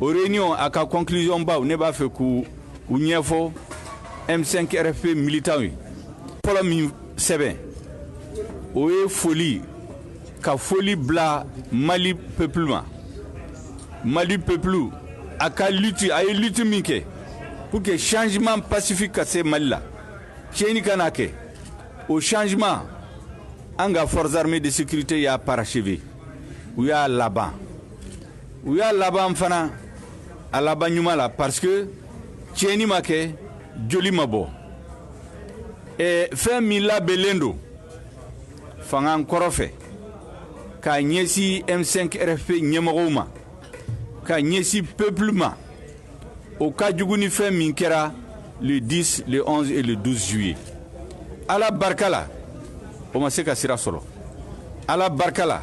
o réunion a ka conclusion baw ne b'a fɛ k'u ɲɛfɔ M5 RFP militant ye fɔlɔ min sɛbɛn o ye foli ka foli bila Mali peuple ma Mali peuple a ka lutte a ye lutte min kɛ pour que changement pacifique ka se Mali la tiɲɛni kana kɛ o changement an ka forces armées de sécurité y'a parachever u y'a laban u y'a laban fana a laban ɲuman la parce que tiɲɛni ma kɛ joli ma bɔ eh, fɛn min labɛnlen don fanga kɔrɔ fɛ k'a ɲɛsin m5 rfp ɲɛmɔgɔw ma ka ɲɛsin peuple ma o ka jugu ni fɛn min kɛra le 10 le 11 et le 12 juillet ala barika la o ma se ka sira sɔrɔ ala barika la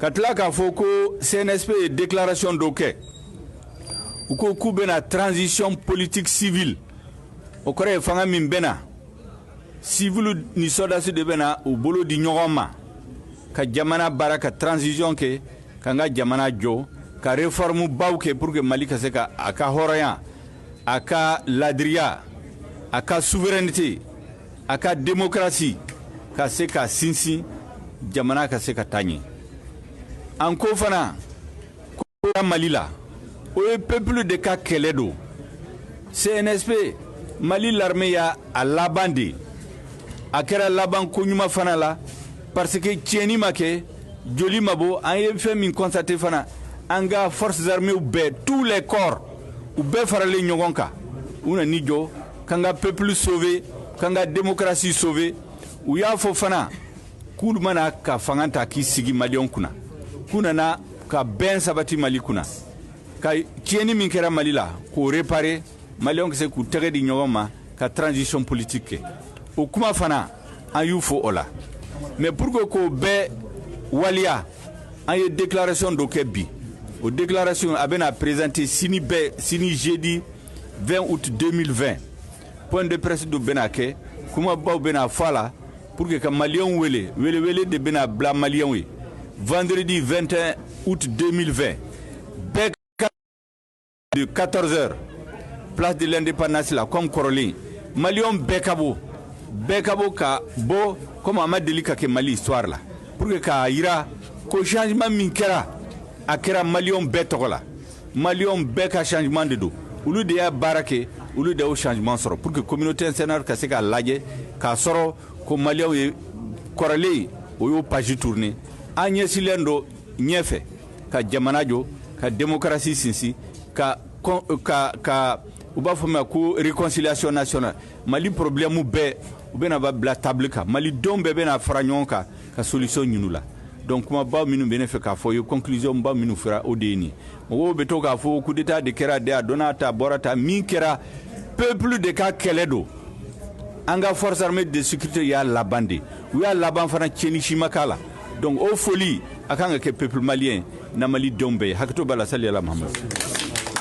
ka tila k'a fɔ ko cnsp ye déclaration dɔ kɛ u ko k'u bɛna transition politique civile o kɔrɔ ye fanga min bɛna siviliw ni sɔrɔdasi de bɛna u bolo di ɲɔgɔn ma ka jamana baara ka transition kɛ k'an ka jamana jɔ ka réforme baw kɛ pour que mali ka se ka a ka hɔrɔnya a ka laadiriya a ka souveraineté a ka demokarasi ka se ka sinsin jamana ka se ka taa ɲɛ an ko fana ko mali la o ye pepulu de ka kɛlɛ don cnsp mali larme y'a laban de a kɛra laban koɲuman fana la parce que tiɲɛni ma kɛ joli ma bɔ an ye fɛn min constaté fana an ka forces armées bɛɛ tous les corps u bɛɛ faralen ɲɔgɔn kan u nan'i jɔ k'an ka pepulu sove k'an ka demokarasi sove u y'a fɔ fana k'olu ma na ka fanga ta k'i sigi maliyɛnw kunna k'u nana ka bɛn sabati mali kunna ka tiɲɛni min kɛra mali la k'o repare maliyɛnw ka se k'u tɛgɛ di ɲɔgɔn ma ka transition politique kɛ o kuma fana an y'u fo o la mais pour que k'o bɛɛ waliya an ye déclaration dɔ kɛ bi o déclaration a bɛna présenter sini bɛɛ sini jeudi 20 août 2020 point de presse dɔ bɛna kɛ kumabaw bɛna fɔ a la pour que ka maliyɛnw wele welewele de bɛna bila maliyɛnw ye vendredi 21 août 2020 bɛɛ ka de 14 heures place de l'indépendance la comme kɔrɔlen maliyɛnw bɛɛ ka bɔ bɛɛ ka bɔ ka bɔ comme a ma deli ka kɛ mali histoire la pour que k'a yira ko changement min kɛra a kɛra maliyɛnw bɛɛ tɔgɔ la maliyɛnw bɛɛ ka changement de don olu de y'a baara kɛ olu de y'o changement sɔrɔ pour que communauté internationale ka se k'a lajɛ k'a sɔrɔ ko maliyɛnw ye kɔrɔlen u y'o page tourné an ɲɛsilen don ɲɛfɛ ka jamana jɔ ka démocratie sinsin ka ka ka u b'a fɔ ma ko réconciliation nationale mali problèmew bɛɛ u bɛna ba bila table kan malidenw bɛɛ bɛna fara ɲɔgɔn kan ka solution ɲini u la donc kumabaw minnu bɛ ne fɛ k'a fɔ ye conclusion baw minnu fɔra o de ye nin mɔgɔw bɛ to k'a fɔ coup d'état de kɛra de a donna ta bɔra ta min kɛra peuple de ka kɛlɛ don an ka force armée de sécurité y'a laban de u y'a laban fana tiɲɛni si ma k'a la donc o foli a kan ka kɛ peuple malien na malidenw bɛɛ ye hakɛto b'a la sali ala mahamadu